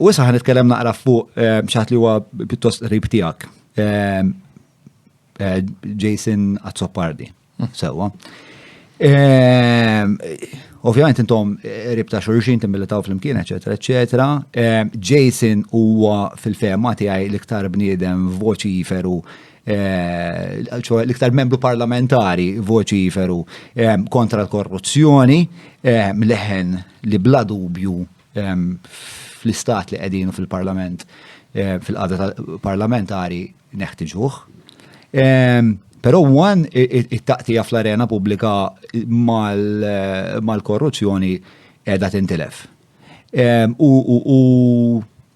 U issa ħan nitkellem naqra fuq eh, xaħat li huwa pjuttost qrib tiegħek. Eh, eh, Jason Azzopardi, hmm. sewwa. Ovvjament intom qrib ta' xurxin timbilitaw fl-imkien, eċetera, eċetera. Jason huwa fil-fema tiegħi l-iktar bniedem voċi jiferu ċoħe l-iktar membru parlamentari voċi jiferu kontra l-korruzzjoni, leħen li bla dubju fl-istat li qegħdin u fil-parlament, fil-qada parlamentari neħtiġuh. Pero għan it-taqtija fl-arena publika mal-korruzzjoni edha tintilef. U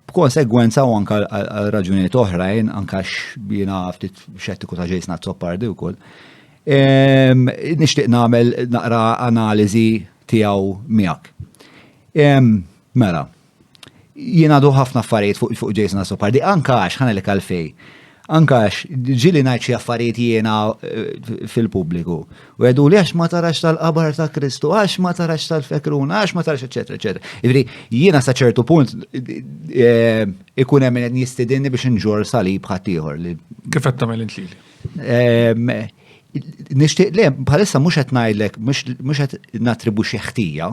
B'konsegwenza u anka għal raġunijiet oħrajn, anka x'bina ftit xettiku ta' ġejsna t-soppardi wkoll. Nixtieq nagħmel naqra analiżi tiegħu miegħek. Mela, jien għadu ħafna affarijiet fuq ġejsna t-soppardi, anka għax ħanelek għalfej. Anke għax ġieli ngħid xi affarijiet jiena eh, fil-pubbliku. U għedu li għax ma tarax tal-qabar ta' Kristu, għax ma tarax tal-fekruna, għax ma tarax, eċetera, eċetera. Ġifieri jiena sa ċertu punt eh, ikun hemm qed jistidinni biex inġor salib ħaddieħor li. Kif qed tagħmel intlili? Ehm, nixtieq le bħalissa mhux qed ngħidlek mhux qed natribuxi ħtija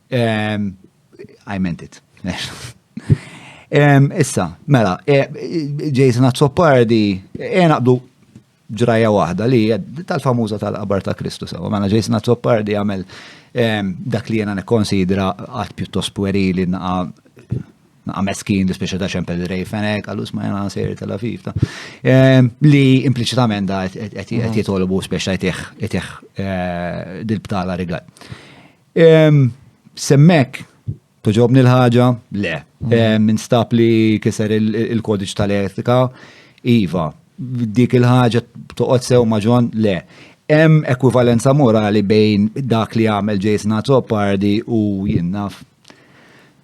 I meant it. Issa, mela, e, Jason Azzopardi, e naqbdu ġraja waħda li tal-famuża tal-qabar ta' Kristu sewa. Mela Jason Azzopardi għamel dak li jena nikkonsidra għat pjuttost puerili naqa naqa meskin li speċa ta' ċempel rej fenek, għallus ma jena sejri tal afif ta' li impliċitament da għet jitolbu speċa jtiħ eh, dil-btala rigal. Semmek, toġobni l-ħaġa? Le. Minn stab li kiser il-kodiċ tal-etika? Iva. Dik il-ħaġa toqgħod sew maġon? Le. Hemm ekwivalenza morali bejn dak li għamel Jason Azzopardi u jinnaf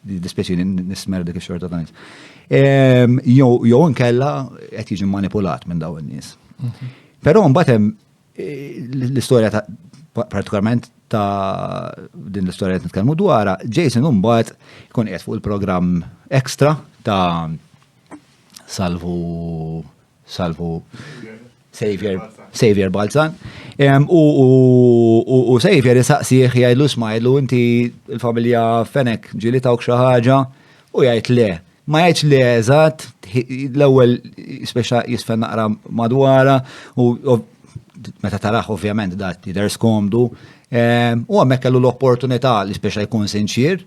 dispieċi nismer dik xorta ta' nis. Ehm, jo nkella qed jiġi manipulat minn daw in-nies. Mhm. Però mbagħad hemm eh, l-istorja ta' partikolarment ta' din l-istorja qed nitkellmu dwarha, Jason mbagħad ikun qed fuq il-programm ekstra ta' salvu Salvu Savior, Savior Balzan. U, u, u, u Savior jisaqsieħ jgħidlu smajlu inti il-familja fenek ġili tawk xi ħaġa u jgħid le. Ma jgħidx le eżatt, l-ewwel speċa jisfen naqra madwara u meta taraħ ovvjament dat jidher skomdu. U hemmhekk kellu l-opportunità li speċa jkun sinċier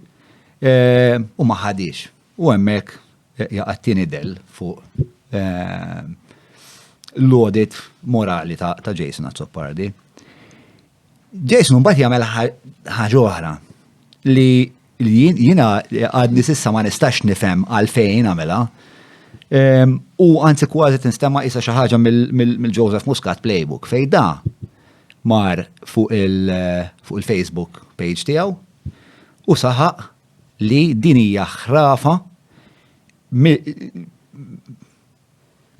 u ma ħadix. U hemmhekk jaqa' t-tieni dell fuq l-audit morali ta' Jason Azzopardi. Jason mbagħad jagħmel ħaġa oħra li jiena għadni s'issa ma nistax nifhem għalfejn għamilha. Ehm, u anzi kważi tinstema' isa xi ħaġa mill-Joseph Muscat playbook fejn da mar fuq il-Facebook page tiegħu u saħaq li din hija ħrafa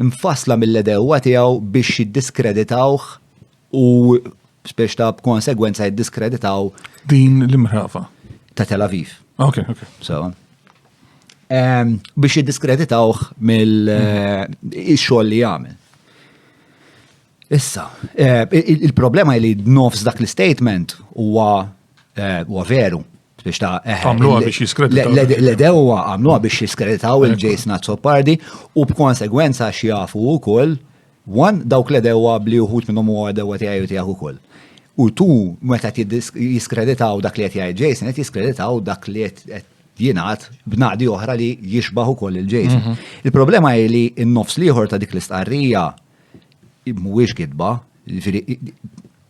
mfassla mill-għedewwa tiegħu biex jiddiskreditawh u biex ta' b'konsegwenza jiddiskreditaw din l-imħrafa ta' Tel Aviv. Ok, ok. So, um, biex jiddiskreditawh mill-xogħol eh, li jagħmel. Issa, eh, il-problema li nofs dak l-statement huwa eh, veru biex ta' eh, għamluha biex jiskreditaw. L-edewa għamluha biex jiskreditaw il-Jason Azzopardi u b'konsegwenza xjafu u koll, wan dawk l-edewa bli uħut minnom u għadewa tijaj u tijaj u koll. U tu meta jiskreditaw dak li għet jgħid Jason, għet jiskreditaw dak li għet jinaħt b'naqdi oħra li jixbaħu koll il-Jason. Mhm. Il-problema hi li n-nofs liħor ta' dik l-istqarrija mhuwiex kitba,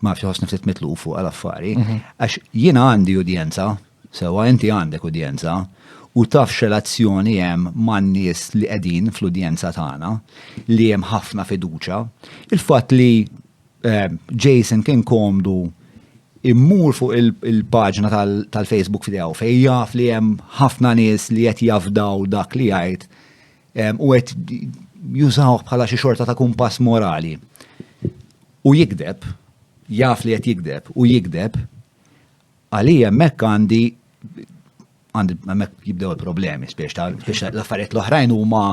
ma nafx ħossni ftit mitlu fuq għal affari, għax jiena għandi udjenza, sewa inti għandek udjenza, u taf x'relazzjoni hemm man-nies li qegħdin fl-udjenza tagħna, li hemm ħafna fiduċja. Il-fatt li eh, Jason kien komdu immur fuq il-paġna tal-Facebook f'dew fejn jaf li hemm ħafna nies li qed jafdaw dak li jgħid U għet jużawh bħala xi xorta ta' kumpass morali. U jikdeb, jaf li qed jikdeb, u jikdeb, għalija hemmhekk għandi għandi hemmhekk jibdew il-problemi, spiex l-affarijiet l-oħrajn huma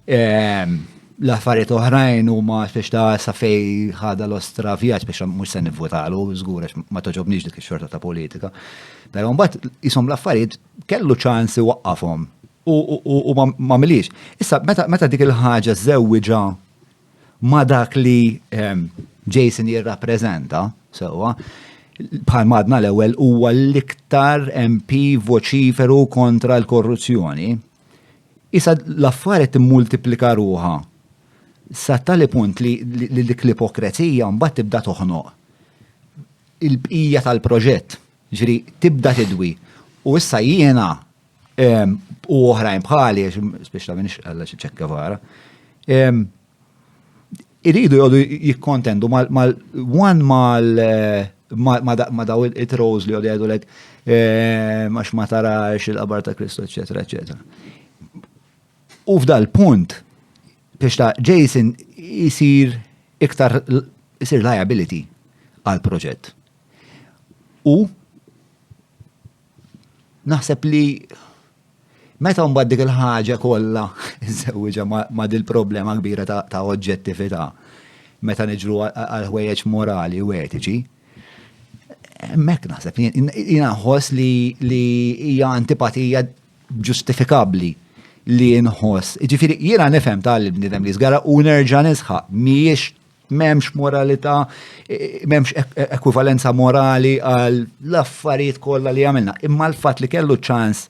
ehm, l-affarijiet oħrajn huma spiex ta' safej ħada l-ostra vjaġġ biex mhux se nivvutalu, żgur ma toġobniex dik ix-xorta ta' politika. Però mbagħad isom l-affarijiet kellu ċans iwaqqafhom u m'għamilhiex. Issa meta dik il-ħaġa żewwiġha ma' dak li ehm, Jason jirrappreżenta, sewwa, bħal madna l-ewwel huwa l-iktar MP voċiferu kontra l-korruzzjoni. Issa l-affarijiet immultiplika ruha sa tali punt li dik l-ipokrezija mbagħad tibda toħnoq il-bqija tal-proġett. Ġifieri tibda tidwi. U issa jiena u oħrajn bħali, biex ta' minix għalla xi ċekkavara, iridu jgħodu jikkontendu mal-one mal ma daw it-trows li għodu għedu l-ek għax ma tarax il-qabar ta' Kristu, eccetera, eccetera. U f'dal punt, biex ta' Jason jisir iktar jisir liability għal-proġett. U naħseb li meta mbagħad dik il-ħaġa kollha żewġa ma' dil-problema kbira ta' oġġettività meta niġru għal ħwejjeġ morali u etiċi, mek naħseb jiena nħoss li hija antipatija ġustifikabbli li nħoss. Ġifieri jiena nifhem tal-bniedem li żgara u nerġa' nisħaq mhijiex M'hemmx moralità, m'hemmx e-, e-, ekwivalenza morali għal l-affarijiet kollha li għamilna. Imma l-fatt li kellu ċans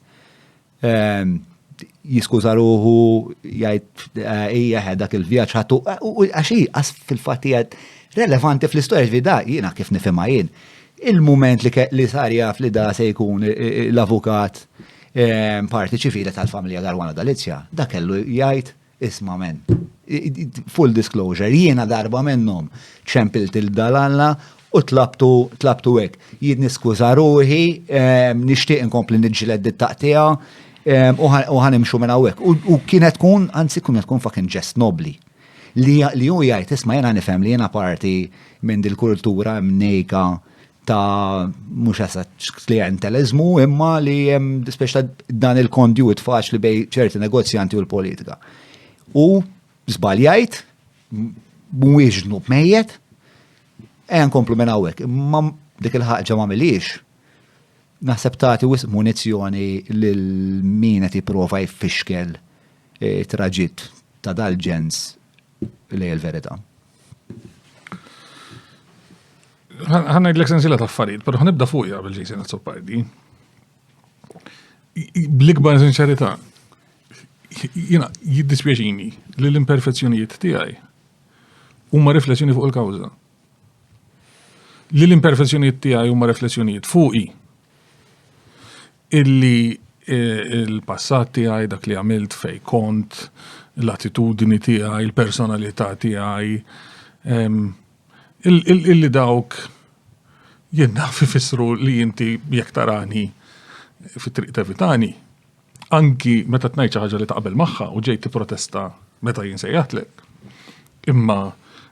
ehm, jiskuża ruħu jgħid eh, hija eh, dak il-vjaġġ ħatu eh, u għax għas fil-fatt hija relevanti fl-istorja ġvida jiena kif nifhimha jien. Il-mument li sar jaf li da se jkun l-avukat parti ċivili tal-familja Garwana Dalizja, da kellu jgħid Isma' men, full disclosure, jiena darba minnhom ċempilt il-Dalalla u tlabtu tlabtu hekk. Jien niskuża ruħi, ehm, nixtieq inkompli niġġled dit-taqtija ehm, u ħanimxu minn hawnhekk. U kienet tkun, anzi kienet tkun fucking ġest nobli. Li hu jgħid isma' jiena nifhem li jiena parti minn dil-kultura mnejka ta' mhux esatt klienteliżmu imma li hemm speċta dan il-kondjut faċli bej ċerti negozjanti u l-politika. U żbaljajt mhuwiex ġnub mejjet, ejja nkomplu minn hawnhekk, imma dik il-ħaġa ma miliex naħseb tagħti wisq munizzjoni lil min qed jipprova jfixkel eh, traġitt ta' dal-ġens li l-verità. Ħanna id-lek sensila ta' affarijiet, pero ħanibda fuqja bil-ġejsi nazzopardi. Bl-ikbar sinċerità, jina jiddispjaċini li l-imperfezzjonijiet tiegħi huma riflessjoni fuq il-kawża. Li l-imperfezzjonijiet tiegħi huma riflessjonijiet fuqi. illi l-passat tiegħi, dak li għamilt fej kont, l-attitudni tiegħi, il-personalità tiegħi, illi dawk jien naf ifissru li inti jekk tarani fit-triq tevitani, anki meta tnajt xi ħaġa li taqbel magħha u ġej tipprotesta meta jien sejjaħtlek. Imma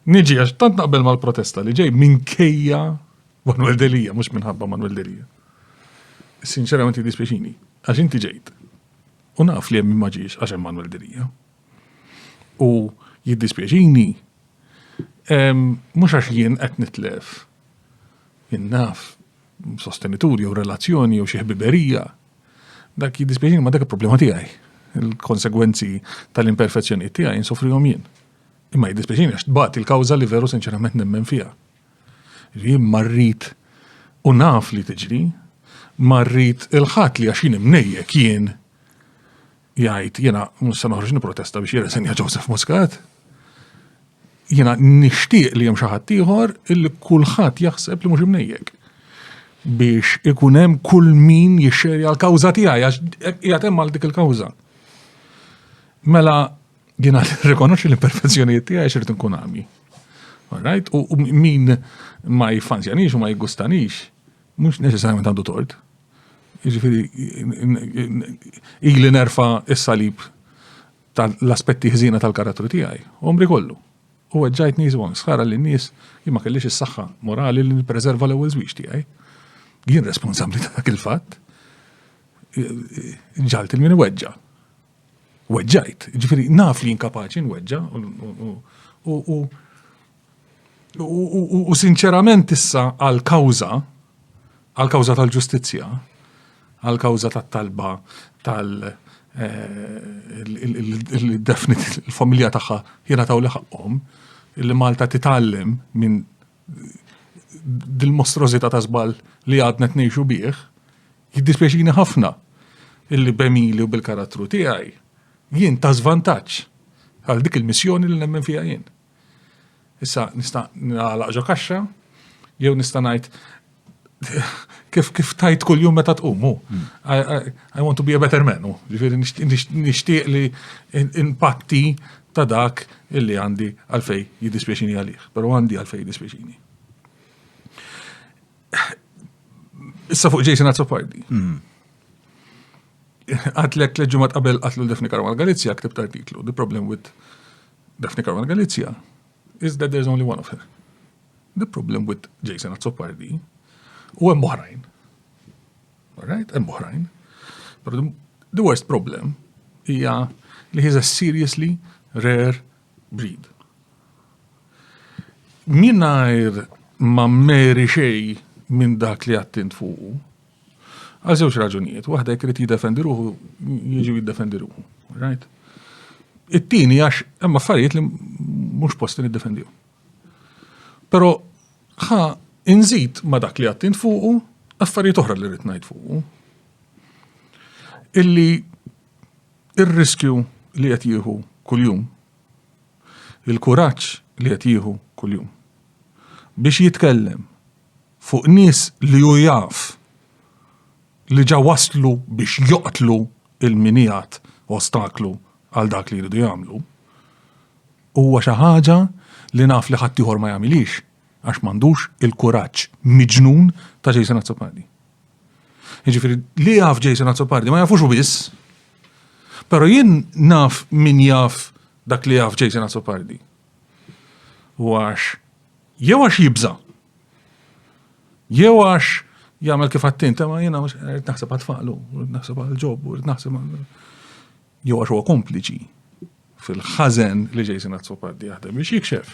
niġi għax tant naqbel mal-protesta li ġej minkejja Manuel Delia, mhux minħabba Manuel Delia. Sinċerament jiddispjaċini, għax inti ġejt. U naf li hemm ma ġiex għax hemm Manuel Dirija. U jiddispjaċini mhux għax jien qed nitlef. Jien naf sostenituri jew relazzjoni jew xi ħbiberija. Dak jiddispjaċini ma dak il-problema tiegħi. Il-konsegwenzi tal-imperfezzjonijiet tiegħi insofrihom jien. Imma jiddispjaċini għax tbagħat il-kawża li veru sinċerament nemmen fiha. Jien ma rrid u naf li tiġri, ma rrid il-ħadd li għax jien imnejjek jien jgħid jiena mhux se noħroġ nipprotesta biex jirreżenja Joseph Muscat. Jiena nixtieq li hemm xi ħadd ieħor illi kulħadd jaħseb li mhux imnejjek biex ikun hemm kull min jixxerja l-kawża tiegħi għax qiegħed hemm għal dik il-kawża. Mela Jiena rikonoxxi l-imperfezzjonijiet tiegħi x'irid nkun għami. Alright? U min ma jiffanzjanix u ma jigustanix, mhux neċessarjament għandu tort. Jiġifieri ili nerfa is-salib tal-aspetti ħżina tal-karattru tiegħi, omri kollu. U għedġajt nies u sħara li nies jien ma kellix is-saħħa morali li nippreserva l-ewwel żwieġ tiegħi. Jien responsabbli ta' dak il-fatt. Ġalt il-min weġġa. Weġġajt, ġifiri, naf li inkapaċi nweġġa u sinċerament issa għal kawza għal kawza tal-ġustizzja, għal kawza tat-talba tal definit il-familja tagħha jiena taw li ħaqqhom li Malta titgħallem minn dil-mostrozita ta' żball li għadna tnejxu bih, Jiddispjaċini ħafna illi b'għemili u bil-karattru tiegħi jien ta' żvantaġġ għal dik il-missjoni li nemmen fiha jien. Issa nista' nagħlaq ġo kaxxa jew nista' ngħid kif kif tajt kull jum meta tqumu. Hmm. I, want to be a better man, ġifieri nixtieq li impatti ta' dak illi għandi għalfej jiddispjaċini għalih, però għandi għalfej jiddispjaċini. Issa fuq Jason Azzopardi. Hmm. Għatlek li ġumat qabel għatlu Daphne Caruana Galizia ktibt artiklu, The Problem with Daphne Caruana Galizia is that there's only one of her. The problem with Jason Azzopardi u hemm oħrajn. Alright, hemm oħrajn. But the worst problem hija li he's a seriously rare Breed. Mingħajr ma meri xej minn dak li għattint fuqu, għal żewġ raġunijiet, waħda jekk irid jiddefendi ruħu, jiġi jiddefendi ruħu. Right? It-tieni għax hemm affarijiet li mhux posti niddefendihom. Però ħa inżid ma dak li għattint fuqu affarijiet oħra li rrid ngħid fuqu. Illi Ir-riskju li qed jieħu kuljum, il-kuraġġ li qed jieħu kuljum biex jitkellem fuq nies li hu jaf li ġa waslu biex joqtlu lil min qiegħed ostaklu għal dak li jridu jagħmlu, huwa xi ħaġa li naf li ħaddieħor ma jagħmilhiex għax m'għandux il-kuraġġ miġnun ta' Jason Azzopardi. Jiġifieri li jaf Jason Azzopardi ma jafux u biss. Però jien naf min jaf dak li jaf Jason Azzopardi. U għax jew għax jibża. Jew għax jagħmel kif għattint, ma jiena qed naħseb għatfaqlu, qed naħseb għal ġob, qed naħseb għal. Jew għax huwa kompliċi. fil-ħażen li Jason Azzopardi jaħdem biex jikxef.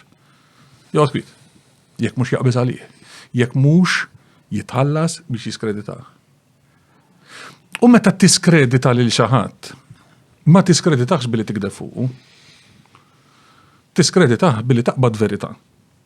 Jgħod kwit, jekk mhux jaqbeż għalih, jekk mhux jitħallas biex jiskredita. U meta tiskredita lil xi ħadd, ma tiskreditax billi tikdef fuqu. Tiskreditah billi taqbad verità.